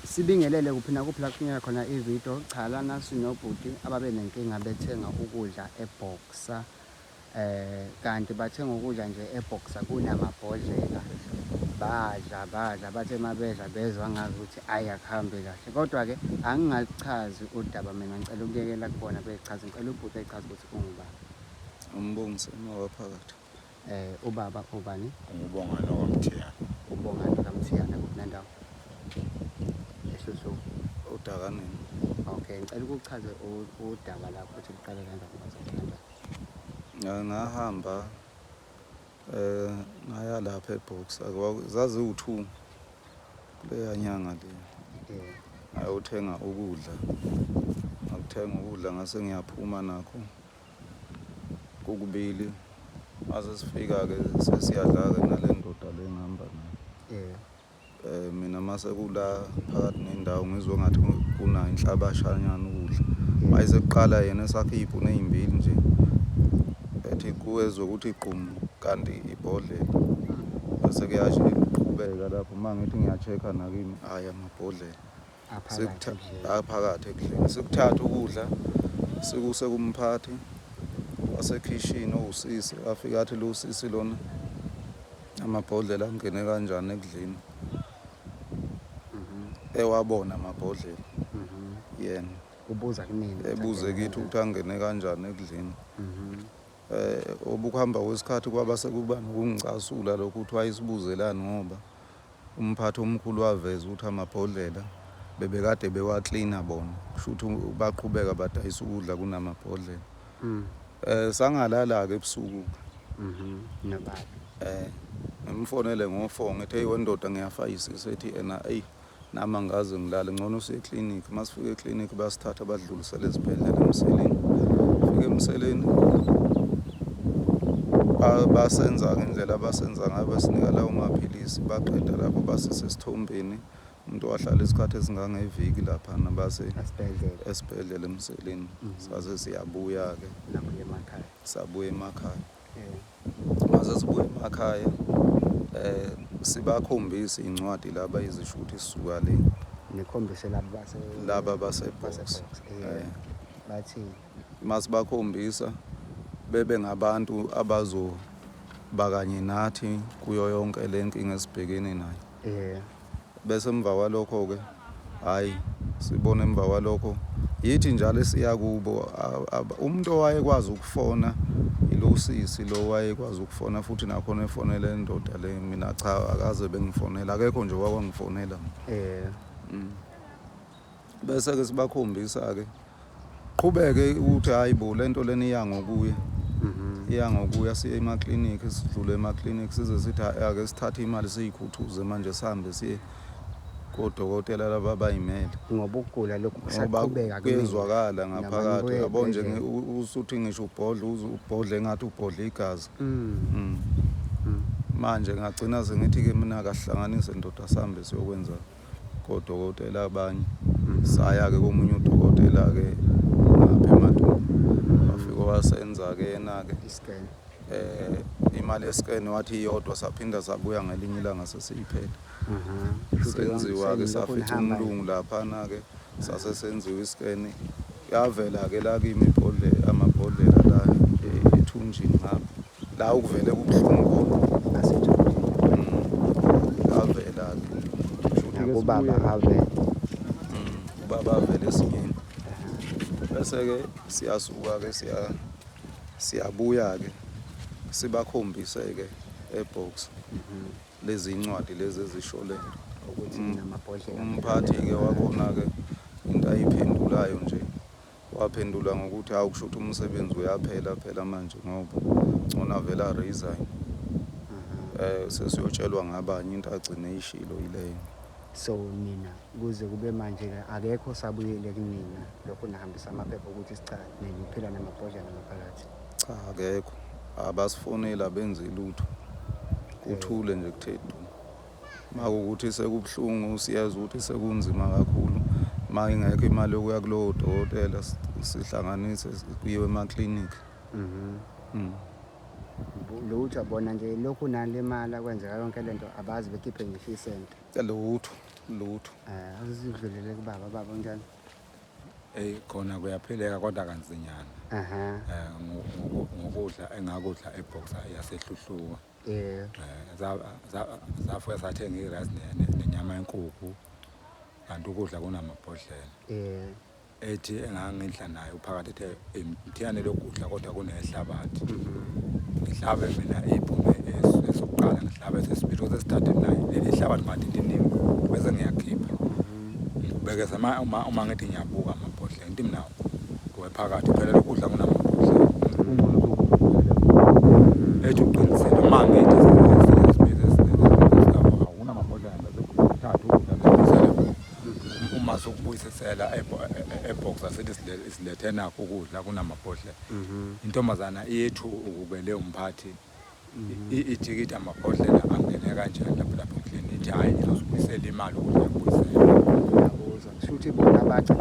Sibingelele kuphi nakuphi la kufinyela khona ividiyo. Cha lana sinobhuti ababe nenkinga bethenga ukudla ebhoksa eh kanti bathenga ukudla nje ebhoksa kunamabhodlela badla badla bathe mabedla bezwa ngazi ukuthi ayi akuhambe kahle kodwa-ke angingachazi udaba mina ngicela ukuyekela kubona bechaze ngicela ubhuti echaze ukuthi ungubani umbongiso uma waphakathi Eh ubaba ubani? Ngubongani wakamthiyana. Ubongani wakamthiyana kuphi nandawo? Ehluhluku. Udaka nini? Okay, ngicela ukuchaze udaba lakho ukuthi kuqale kanjani bazokuthandana. Eh, ngahamba eh ngaya lapha eBox zaziwu-two kuleya nyanga le eh. ngayothenga ukudla ngakuthenga ukudla ngase ngiyaphuma nakho kokubili mase sifika-ke sesiyadla-ke nale ndoda le ngihamba nayo eh. eh mina mase kula phakathi nendawo ngizwe ngathi kuna inhlabashanyana ukudla eh. mayise kuqala yena esakhe iy'puni ey'mbili nje ethi kuwezwe ukuthi igqumu kanti ibhodlela bese kuyasho iqhubeka lapho uma ngithi ngiya-check-a nakimi hhayi amabhodlela aphakathi ekudleni sikuthatha ukudla sikuse kumphathi wasekhishini owusisi afike athi lo usisi lona amabhodlela angene kanjani ekudleni mhm. ewabona amabhodlela mhm. yena ubuza kimina ebuze kithi ukuthi angene kanjani ekudleni mhm. Eh, obukuhamba kwesikhathi kwaba sekuba nokungicasula lokho ukuthi wayesibuzelani ngoba umphathi omkhulu waveza ukuthi amabhodlela bebekade bewaklina bona kusho ukuthi baqhubeka badayisa ukudla kunamabhodlela mm. eh sangalala-ke ebusuku mhm, nababa eh ngimfonele ngo-four ngithe wendoda ngiyafayisisa ethi ena eyi Nami angaze ngilale ngcono useclinic masifika eclinic basithatha badlulisele ezibhedlela emseleni fika emseleni basenza ngendlela abasenza ngayo basinika lawo maphilisi baqeda lapho basisesithombeni umuntu wahlala isikhathi esingangeviki lapha nabase esibhedlela emseleni mm. saze siyabuya-ke sabuya emakhaya Maze sibuye emakhaya eh sibakhombisa incwadi laba izisho ukuthi sisuka le nikhombise laba base laba basebox eh bathi masibakhombisa bebe ngabantu abazo bakanye nathi kuyo yonke lenkinga esibhekene nayo yeah Bese emva kwalokho-ke, hhayi, sibona emva kwalokho, yithi njalo esiya kubo, umuntu owayekwazi ukufona ilo usisi lo wayekwazi ukufona futhi nakhona efonela indoda le mina cha akaze bengifonela akekho nje wawangifonela eh mm. Bese-ke sibakhombisa-ke qhubeke ukuthi hhayi bo le nto lena iya ngokuya mhm. iya ngokuya siye emaklinikhi sidlule emaklinikhi size sithi ake sithathe imali siyikhuthuze manje sihambe siye kodokotela laba bayimele ngoba ukugula lokhu kusaqhubeka kuyezwakala ngaphakathi yabo nje usuthi ngisho ubhodla ubhodla engathi ubhodla igazi mm. Mm. Mm. manje ngagcina sengithi-ke mina akahlanganise ndoda sihambe siyokwenza kodokotela abanye saya-ke komunye udokotela-ke ngapha emadumba wafike wasenza-ke yena-ke eh imali yescan wathi iyodwa saphinda sabuya ngelinye ilanga sesiyiphela senziwa-ke safica umlungu laphana-ke sase senziwa iscan yavela-ke la kimi ibhodlela amabhodlela la ethunjini ngapha La ukuvele kubuhlungu avela kubaba ave ubaba avele esingeni bese-ke siyasuka-ke siyabuya-ke sibakhombise-ke ebox lezi ncwadi lezi ezishole umphathi-ke wakhona-ke into ayiphendulayo nje Waphendula ngokuthi hawu kusho ukuthi umsebenzi uyaphela phela manje ngoba ngcono avele aresign um sesiyotshelwa ngabanye into agcine ishilo yileyo so nina kuze kube manje-ke akekho osabuyile kunina lokhu nihambisa amaphepha ukuthi sicha neniphila namabhodlela ngaphakathi cha akekho abasifoneli abenzi lutho kuthule nje kuthe du Makuwukuthi sekubuhlungu siyazi ukuthi sekunzima kakhulu uma ingekho imali yokuya kulowo dokotela sihlanganise kuyiwe emaklinikhi mhm. mm. lutho bona nje lokhu nale mali akwenzeka yonke le nto abazi bekhiphe ngisho isente lutho lutho eh, um azidlulele kubaba baba njani eyi khona kuyaphileka kodwa kanzinyana um ngokudla engakudla ebhoxa yasehluhluka Eh, za- za- zafika sathenga irasi nenyama yenkukhu kanti ukudla kunamabhodlela eh, ethi engangidla nayo phakathi ethe imthiyane lokudla kodwa kunehlabathi ngihlabe mina iphume esu- esokuqala ngihlabe sesibili osesithathe naye leli hlabathi madidiniwe bese ngiyakhipha Ngibekeza uma uma uma ngithi ngiyabuka amabhodlela into imnawo kuwe phakathi phela lokudla kunamabhodlela. Ethi uqinisile uma ngithi uma sokubuyisisela ebox asithi silethe nakho ukudla kunamabhodlela. Mhm. Intombazana iyethu ukubele umphathi Ijikita amabhodlela angene kanjani lapho lapho endlini ithi hhayi ngizozibuyisela imali ukudla kubuyisela. Kusho ukuthi bona bathi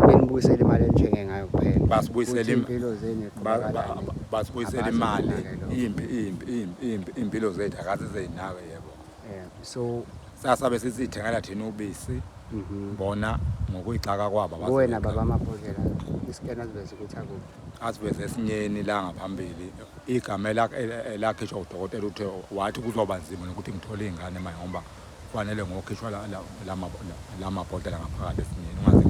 benibuyisela imali enjenge ngayo kuphela. Basibuyisela impilo zenu basibuyisela imali impi impi impi impilo zethu akaze zeyinaka yebo. So sasabe sisithengela thina ubisi mhm. bona ngokuyixaka kwabo. Wena baba amabhodlela isikena siveza ukuthi akuphi. asiveze esinyeni la ngaphambili igama elakhishwa udokotela uthe wathi kuzoba nzima nokuthi ngithole iy'ngane manje ngoba kufanele ngokhishwa la mabhodlela ngaphakathi esinyeni ungaze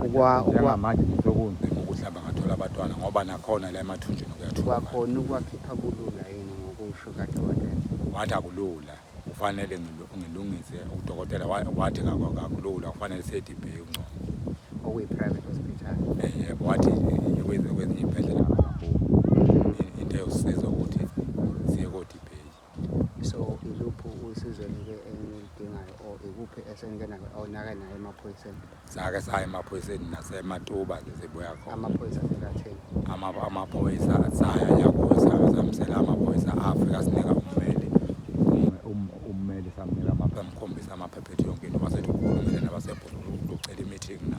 ngilimaleamanje ngisekunzima ukuthi hamba ngathola abatwana ngoba nakhona la emathunjini kuyathuakhona ukwakhipha kulula yini ngokusho kadokotela wathi akulula kufanele ngilungise udokotela wathi kakulula kufanele sethi ibheke kungcono okuyi-private hospital yebo wathi ikwenze kwezinye iy'bhedlela into eyosiza ukuthi siye kodibheki so iluphi usizo nike enilidingayo or ikuphi esenike nayo awunake nayo emaphoyiseni sake saya emaphoyiseni nasematuba nje sibuya khona amaphoyisa sekatheni Ama- amaphoyisa saya yakuza samsela amaphoyisa afika sinika ummeli Umme- um- ummeli samnika amapha amkhombisa amaphepha ethi yonke into basethi ukhulumile nabasebhululu ucela i-meeting na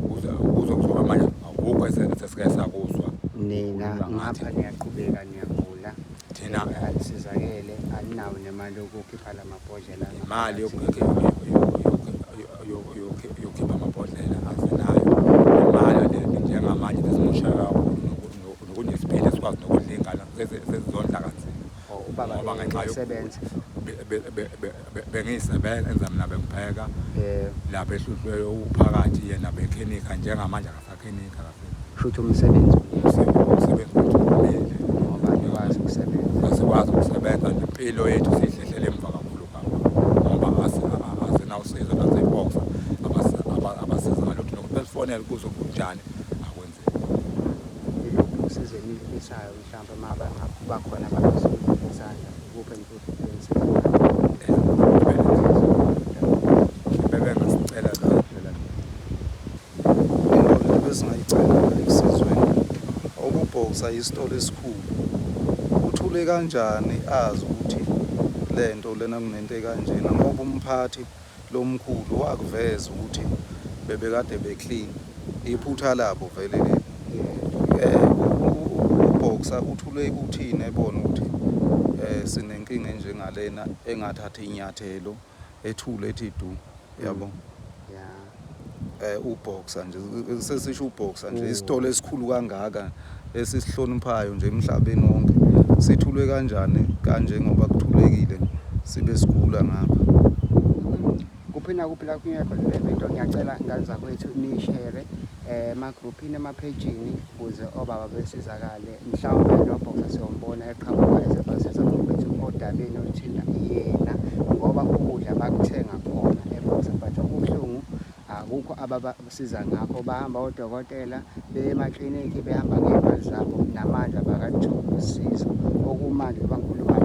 kuze kuze kuzoba amanye akukho ese- sesike sakuzwa nina Ukhuluma ngathi. ngapha niyaqhubeka niyagula thina anisizakele aninawo nemali yokukhipha la mabhodlela imali yokukhipha yokukhipha amabhodlela asenayo imali alele njengamanje besimosha kakhulu nokunesiphila sikwazi nokudla iy'ngane sezizondla kanzima oh, ngoba ngenxa yokusebenza bengiyisebenza mina bengipheka lapha ehluhlweyo uphakathi yena bekhenika njengamanje Futhi umsebenzi ngoba nikwazi ukusebenza. Asikwazi ukusebenza nje impilo yethu siyihlehlele emva kakhulu ngoba asinawusizo naseyiboksa abasiza ngalutho nokuthi besifonele kuzo kunjani akwenzeki. Iluphi usizo enilifisayo mhlawumbe uma bakuba khona abazosizana kuphi enikuthi Into ebesingayicela la esizweni ukuboxer yisitolo esikhulu uthule kanjani azi ukuthi lento lena kunento ekanjena ngoba umphathi lomkhulu wakuveza ukuthi bebekade be clean iphutha labo vele leli eh uboxer uthule ukuthini ebona ukuthi eh sinenkinga enjengalena engathatha inyathelo ethule ethi du yabo mm. eh uboxer nje sesisho uboxer nje mm. isitolo esikhulu kangaka esisihloniphayo nje emhlabeni wonke sithulwe kanjani kanje ngoba kuthulekile sibe sigula ngapha kuphi nakuphi la kungekho le video ngiyacela ngane zakwethu nishere um eh, emagruphini emaphejini ukuze obaba besizakale mhlawumbe noBoxer siyombona eqhamuka ezibhasini zaMabhithi odabeni oluthinta yena ngoba ukudla bakuthenga khona eBoxer but okubuhlungu akukho ababasiza ngakho bahamba odokotela beye emakliniki behamba ngey'mali zabo namanje abakalutholi usizo okumanje bankulumo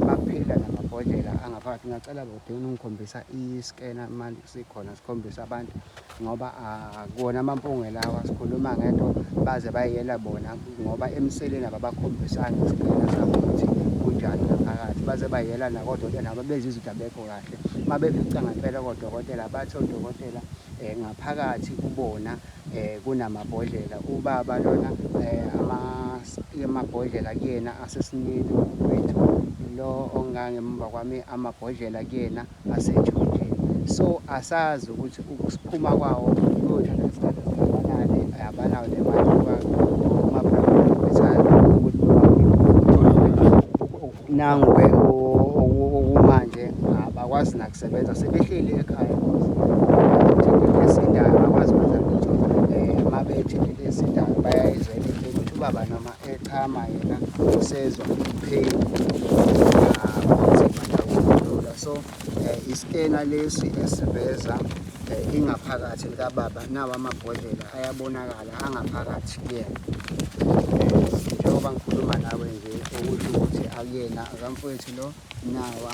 baphila namabhodlela angaphakathi ngacela bobhekeni ungikhombisa i-scanner manje sikhona sikhombisa abantu ngoba akuwona ah, amampunge lawa sikhuluma ngento baze bayiyela bona ngoba emseleni ababakhombisanga isigcina sabo ukuthi kunjani ngaphakathi baze bayiyela nakodokotela nabo benza izinto abekho kahle uma befica ngempela kodokotela bathi odokotela um ngaphakathi kubona um kunamabhodlela ubaba lona um amabhodlela kuyena asesinini wethu lo ongangemva kwami amabhodlela kuyena aseJordani. So asazi ukuthi ukusiphuma kwawo kuyothatha isikhathi esingakanani, abanawo nemali nangu-ke okumanje abakwazi nakusebenza sebehleli ekhaya esindayo bakwazi ukwenza lutho um uma bethi lezi ndawo bayayizela ukuthi ubaba noma echama yena usezwa pain ah, so eh, iskena lesi esiveza eh, ingaphakathi likababa nawo amabhodlela ayabonakala angaphakathi kuyena njengoba ngikhuluma nawe nje okusho ukuthi akuyena akamfowethu lo nawa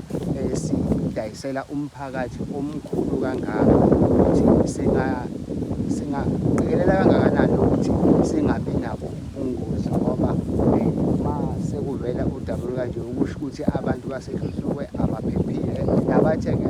esidayisela umphakathi omkhulu kangaka ukuthi singaqikelela kangakanani ukuthi singabi nabo ubungozi ngoba eh, uma sekuvela udaba olukanje ukusho ukuthi abantu basehlutshukwe abaphephile nabathenge